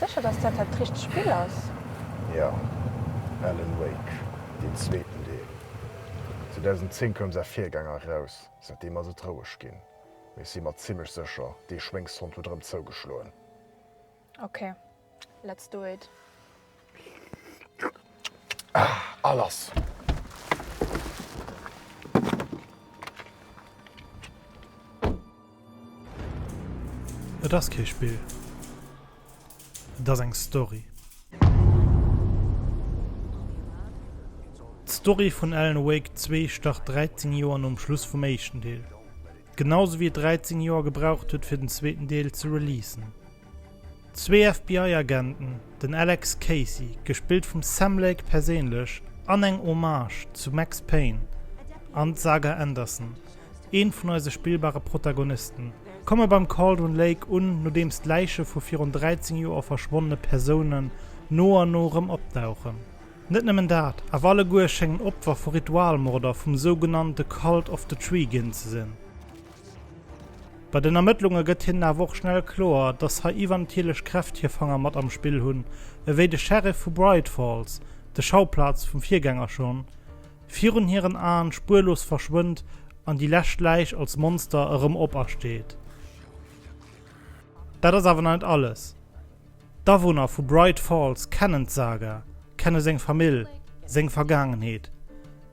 Sécher dass dat dat richtegt Spill ass? Jo, Alan Wake, deen zweeten Deel. 2010 koum säi Virgänger eraus, säitdeem ass et roueg ginn. Mee si mer zimlech secher dee Schwéngshond huet erem zougeschloen. Ok, let's do it. A lass! Et ass kee Spill. Et ass eng Story. D'Story vun Alan Wake zwee start 13 Joer nom Schluss vum éischten Deel. Genau sou wéi et 13 Joer gebraucht huet fir den zweeten Deel ze releasen. Zwee FBI-Agenten, den Alex Casey, gespillt vum Sam Lake perséinlech, an eng Hommage zu Max Payne an d'Saga Anderson, Een vun eise spillbare Protagonisten. Komme beim Cauldron Lake un, nodeems d'Läiche vu virun 13 Joer verschwonnene Persounen no an no erëm opdauchen. Net nëmmen dat, awer alleguer schéngen Opfer vu Ritualmorder vum sougenannte Cult of the Tree ginn ze sinn. Bei den Ermëttlunge gëtt hinnen awer och schnell kloer, dass hei iwwernatierlech Kräft hir Fanger mat am Spill hunn, ewéi de Sheriff vu Bright Falls, de Schauplaz vum Virgänger, schonn Virun hiren Aen spuerlos verschwënnt an déi lescht Läich als Monster erëm opersteet. Dat ass awer nach net alles. D'Awunner vu Bright Falls kennen d'Saga, kenne seng Famill, seng Vergaangenheet.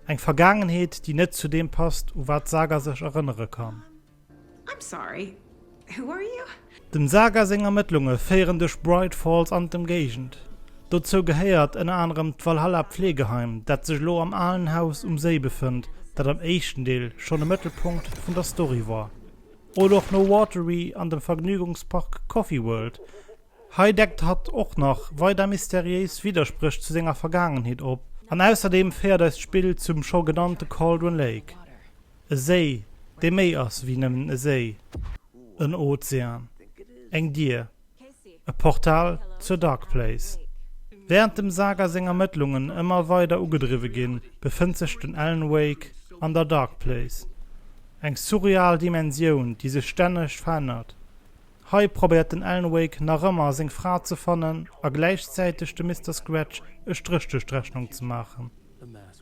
Eng Vergaangenheet, déi net zu deem passt, u wat d'Saga sech erënnere kann. I'm sorry, who are you? Dem Saga seng Ermëttlunge féieren duerch Bright Falls an d'Ëmgéigend. Dozou gehéiert ënner anerem d'Valhalla Pflegeheim, dat sech elo am alen Haus um Séi befënnt, dat am éischten Deel schonn e Mëttelpunkt vun der Story war. Oder och No Watery an dem Vergnügungspark Coffee World. Hei deckt hatt och nach weider mysteriéis Widderspréch zu senger Vergaangenheet op. An ausserdeem féiert eis d'Spill zum scho genannte Cauldron Lake. E Séi, dee méi ass wéi nëmmen e Séi, en Ozean, eng Dier, e Portal zur Dark Place. Wärend dem Saga seng Ermëttlungen ëmmer weider ugedriwwe ginn, befënnt sech den Alan Wake an der Dark Place, eng surreal Dimensioun, déi sech stänneg verännert. Hei probéiert den Alan Wake nach ëmmer seng Fra ze fannen a gläichzäiteg dem Mister Scratch e Stréch duerch d'Rechnung ze maachen.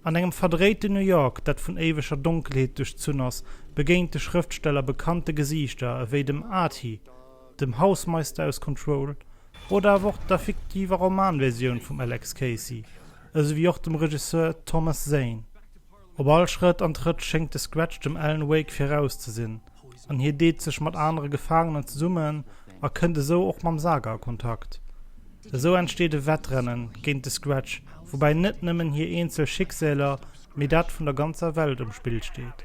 An engem verdréiten New York, dat vun éiweger Donkelheet duerchzunn ass, begéint de Schrëftsteller bekannte Gesiichter ewéi dem Artie, dem Hausmeister aus Control oder awer och der fiktiver Romanversioun vum Alex Casey, esou wéi och dem Regisseur Thomas Zane. Op all Schrëtt an Trëtt schéngt de Scratch dem Alan Wake viraus ze sinn, an hie deet sech mat anere Gefaangenen zesummen a kënnt esou och mam Saga a Kontakt. Esou entsteet e Wettrennen géint de Scratch, woubäi net nëmmen hir eenzel Schicksäler, mee dat vun der ganzer Welt um Spill steet.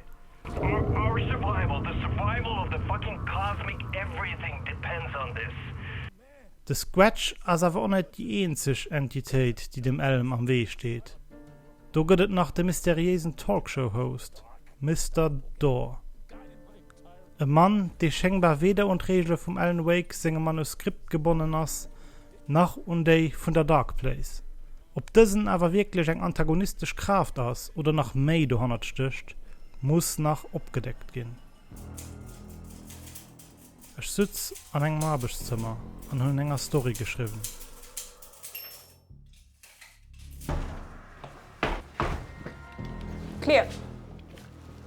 De Squatch ass awer och net déi eenzeg Entitéit, déi dem Elm am Wee steet. Do gëtt et nach de mysteriéisen Talkshow-Host Mister Dor. E Mann, dee schéngbar weder un d'Reegele vum Alan Wake sengem Manuskript gebonnen ass, nach un déi vun der Dark Place. Ob dësen awer wierklech eng antagonistesch Kraaft ass oder nach méi dohannert stécht, muss nach opgedeckt ginn. Ech sutz an engem Arbechtszëmmer an hun enger Story geschriwwen. Clear!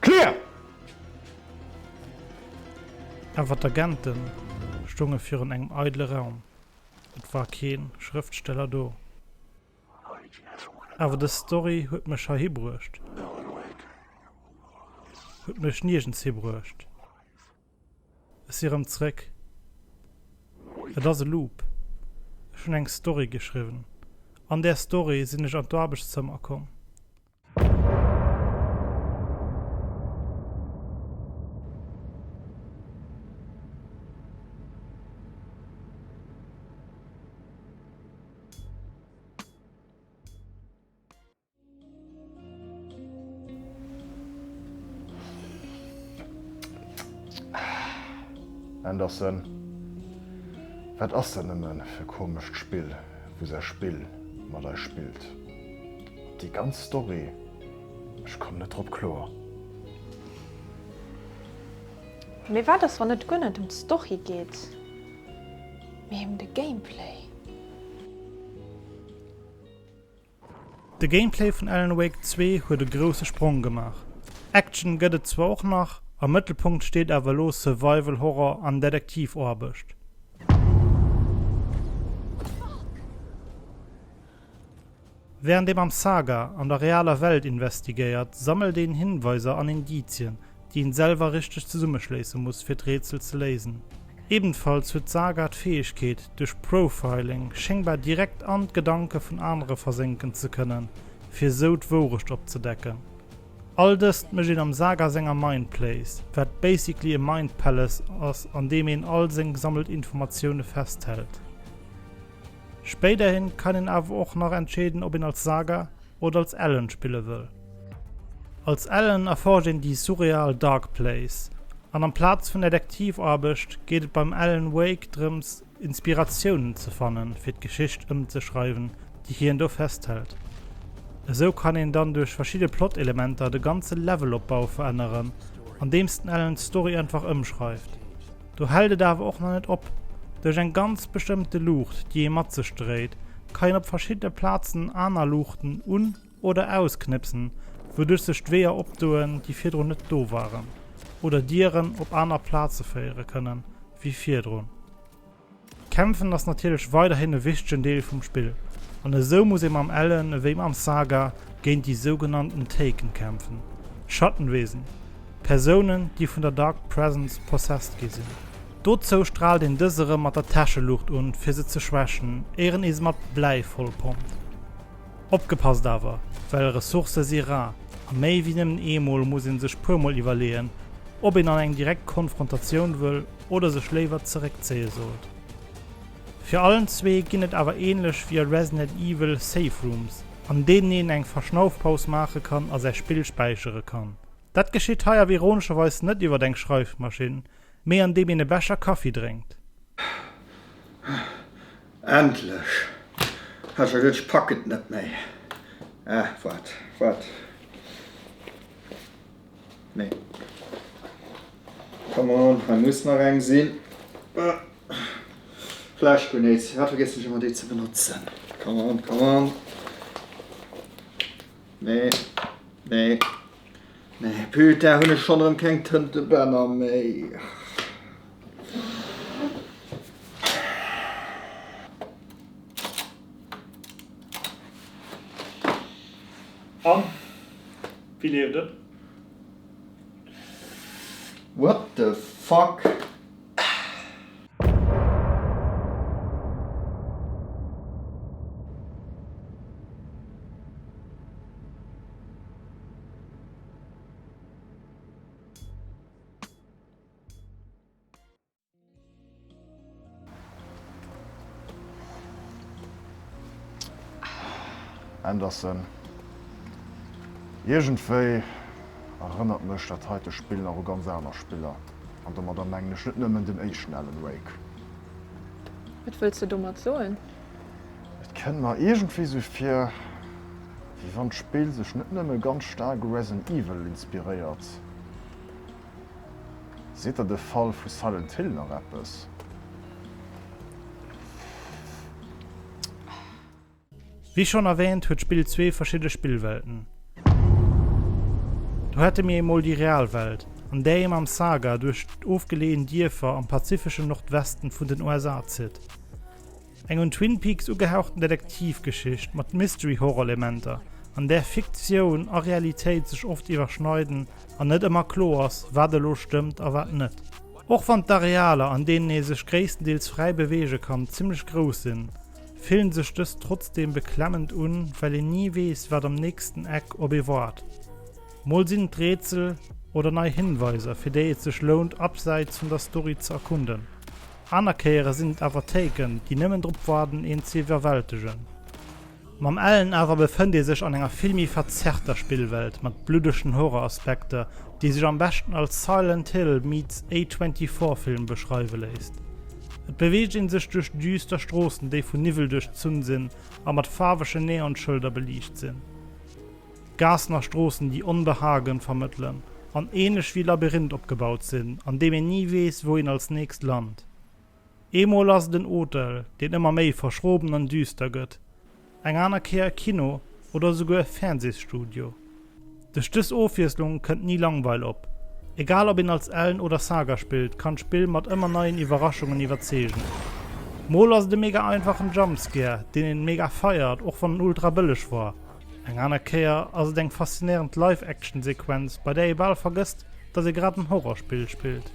Clear! Awer d'Agenten stongen virun engem eidele Raum. Et war keen Schrëftsteller do. Awer dës Story huet mech hei hibruecht. Huet mech niergens hibruecht. Ech si rëm zréck. Et ass e Loop. Ech hunn eng Story geschriwwen. An där Story sinn ech an d'Aarbechtszëmmer komm. Anderson, wat ass dat nëmme fir komescht Spill, wou säi Spill mat eis spillt? Déi ganz Story, ech komm net drop kloer. Mee wat ass wann et guer net em d'Story geet, mee em de Gameplay? De Gameplay vun Alan Wake zwee huet e grousse Sprong gemaach. Action gëtt et zwar och nach, am Mëttelpunkt steet awer elo Survival Horror an Detektivaarbecht. Wärend een am Saga an der realer Welt investigéiert, sammelt een Hinweiser an Indizien, déi een selwer richteg zesummeschléisse muss fir d'Rätsel ze léisen. Ebenfalls huet d'Saga d'Fäegkeet, duerch Profiling schéngbar direkt an d'Gedanke vun anere versénken ze kënnen, fir esou d'Wourecht opzedecken. All dëst mécht een am Saga senger Mindplace, wat basically e Mindpalace ass an deem een all seng gesammelt Informatioune festhält. Spéiderhin kann een awer och nach entscheeden op een als Saga, oder als Ellen spille wëll. Als Ellen erforscht een déi surreal Dark Place, an amplaz vun der Detektivaarbecht geet et beim Alan Wake drëms, Inspiratiounen ze fanne fir d'Geschicht ëmzeschreiwen, déi hien do festhält. Esou kann een dann duerch verschidde Plot-Elementer de ganze Levelopbau veränneren, andeems den Alan d'Story einfach ëmschreift. Do hält et awer och nach net op. Duerch eng ganz bestëmmte Luucht, déi ee mat sech dréit, ka een op verschiddene Plazen aner Luuchten un oder ausknëpsen, wouduerch sech d'Weeër opdoen, déi virdrun net do waren, oder Dieren op aner Plaze féiere kënnen, wéi virdrun. Kämpfen ass natierlech weiderhin e wichtegen Deel vum Spill, an esou muss ee mam Ellen ewéi mam Saga géint déi sougenannten Taken kämpfen, Schattenwesen, Persounen, déi vun der Dark Presence possessed gi sinn. Dozou straalt een dës erëm mat der Täscheluucht un, fir se ze schwächen, éier een se mat Bläi voll pompt. Opgepasst awer, well Ressourcë si rar, a méi ewéi nëmmen eemol muss ee sech puermol iwwerleeën, ob een an eng direkt Konfrontatioun wëll, oder sech léiwer zeréckzéie sollt. Fir allen zwee ginn et awer änlech wéi a Resnet Evil Save Rooms, an deenen een eng Verschnaufpaus maache kann a säi Spill späichere kann. Dat geschitt hei awer ironescherweis net iwwert eng Schreifmaschinn, mee an deem een e Becher Kaffi drénkt. Ahh, endlech! Ech hat geduet, ech packen et net méi. Ahh, waart, waart. Nee. Come on, hei muss nach eng sinn. Flash Grenades, wat vergiessen ech ëmmer déi ze benotzen. Come on, come on. Nee, nee. Nee, putain, hunn ech schonn erëm keng Tëntebänner méi. An? Wéi leeft et? What the fuck? Henderson. Iergendwéi erënnert mech dat heite Spill nach u ganz aner Spiller. An domadder mengen ech net nëmmen den éischten Alan Wake. Wat wëlls de domat soen? Et kënnt mer iergendwéi sou vir, wéi wann d'Spill sech net nëmme ganz staark u Resident Evil inspiréiert. Seet der de Fall vu Silent Hill nach eppes? Wéi schonn erwäänt huet d'Spill zwee verschidde Spillwelten. Do hätte mir emol déi real Welt, an där ee mam Saga duerch ofgeleeën Dierfer am pazifeschen Nordwesten vun den USA zitt. Eng un Twin Peaks ugehauchten Detektivgeschicht mat Mystery-Horror-Elementer, an där Fiktioun a Realitéit sech oft iwwerschneiden an net ëmmer kloer ass, wat elo stëmmt a wat net. Och wann d'Arealer, an deenen ee sech gréisstendeels fräi beweege kann, zimmlech grouss sinn, fillen sech dës trotzdeem beklemmend un, well een ni weess, wat am nächsten Eck op ee waart. Mol sinn et Rätsel oder nei Hinweiser, fir déi et sech lount, abseits vun der Story ze erkunden. Aner Kéiere sinn et awer Téiken, déi nëmmen drop waarden, een ze iwwerwältegen. Mam Ellen awer befënnt ee sech an enger vill méi verzerrter Spillwelt mat bluddegen Horror-Aspekter, déi sech am beschten als Silent Hill meets A24-Film beschreiwe léisst. Et beweegt ee sech duerch düster Stroossen, déi vun Niwwel duerchzunn sinn a mat faarwege Neonschëlder beliicht sinn. Gaassen a Stroossen, déi Onbehagen vermëttelen an ähnlech wéi Labyrinth opgebaut sinn, an deem een ni weess, wou een als nächst lant. Eemol ass et en Hotel, deen ëmmer méi verschroben an düster gëtt, eng aner Kéier e Kino oder esouguer e Fernsehsstudio. Duerch dës Ofwiesslung kënnt ni Langweil op. Egal ob een als Ellen oder Saga spillt, kann d'Spill mat ëmmer neien Iwwerraschungen iwwerzeegen. Mol ass et e mega einfachen Jumpscare, deen een mega feiert, och wann en ultra bëlleg war. Eng aner Kéier ass et eng faszinéierend Live-Action-Sequenz, bei där ee bal vergësst, datt ee grad en Horrorspill spillt.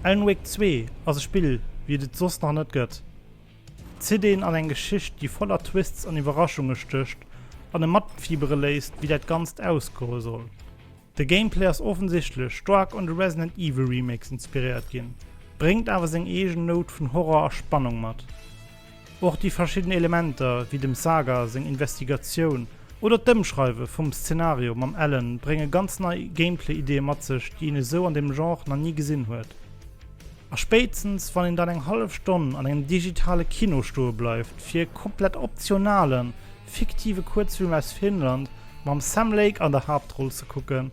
Alan Wake 2 ass e Spill, wéi et et soss nach net gëtt. Zitt een an eng Geschicht, déi voller Twists an Iwwerraschunge stécht an e matfiibere léisst, wéi dat Ganzt ausgoe soll. De Gameplay ass offensichtlech staark un de Resident Evil Remakes inspiréiert ginn, bréngt awer seng eegen Nout vun Horror a Spannung mat. Och déi verschidden Elementer, wéi dem Saga seng Investigatioun oder d'Ëmschreiwe vum Szenario mam Alan, brénge ganz nei Gameplay-Ideeë mat sech, déi een esou an deem Genre nach ni gesinn huet. A spéitstens wann een dann eng hallef Stonn an engem digitale Kino stoe bleift, fir e komplett optionalen, fiktive Kuerzfilm aus Finnland mam Sam Lake an der Haaptroll ze kucken,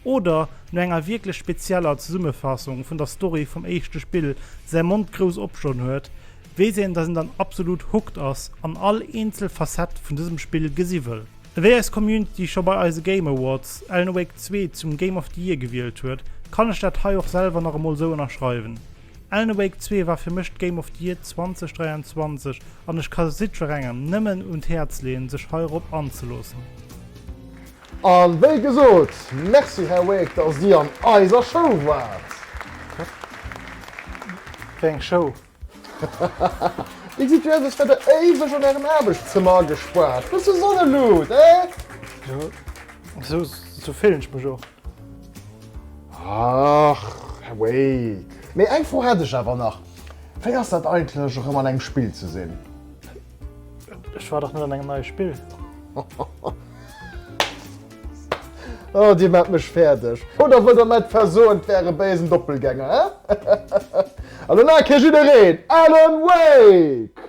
Oder no enger wierklech spezieller Zesummefassung vun der Story vum éischte Spill säi Mond grouss opstoen huet, weess een, dass een dann absolut hooked ass an all eenzel Facette vun dësem Spill gesi wëll. Wéi eis Community scho bei eise Game Awards Alan Wake 2 zum Game of the Year gewielt huet, kann ech dat hei och selwer nach emol esou ënnerschreiwen. Alan Wake 2 war fir mech d'Game of the Year 2023 an ech ka jiddwerengem nëmmen un d'Häerz leeën sech heirop anzeloossen. A wéi gesot, Merci Här Wake, dass Dir an eiser Show waart. Wéi eng Show? Déi gesitt jo aus, als wäert Der éiweg an Ärem Aarbechtszëmmer agespaart. Bësse Sonneluut, eh? Jo, esou fillen ech mech och. Ach, Här Wake, mee eng Fro hätt ech awer nach, Wéi ass dat eigentlech, erëm an engem Spill ze sinn? Ech war dach net an engem neie Spill. Oh, Dir maacht mech fäerdeg. Oder wëllt Der mäi versoen, 't wär e béisen Doppelgänger, he? An elo kéint jiddereen Alan Wake!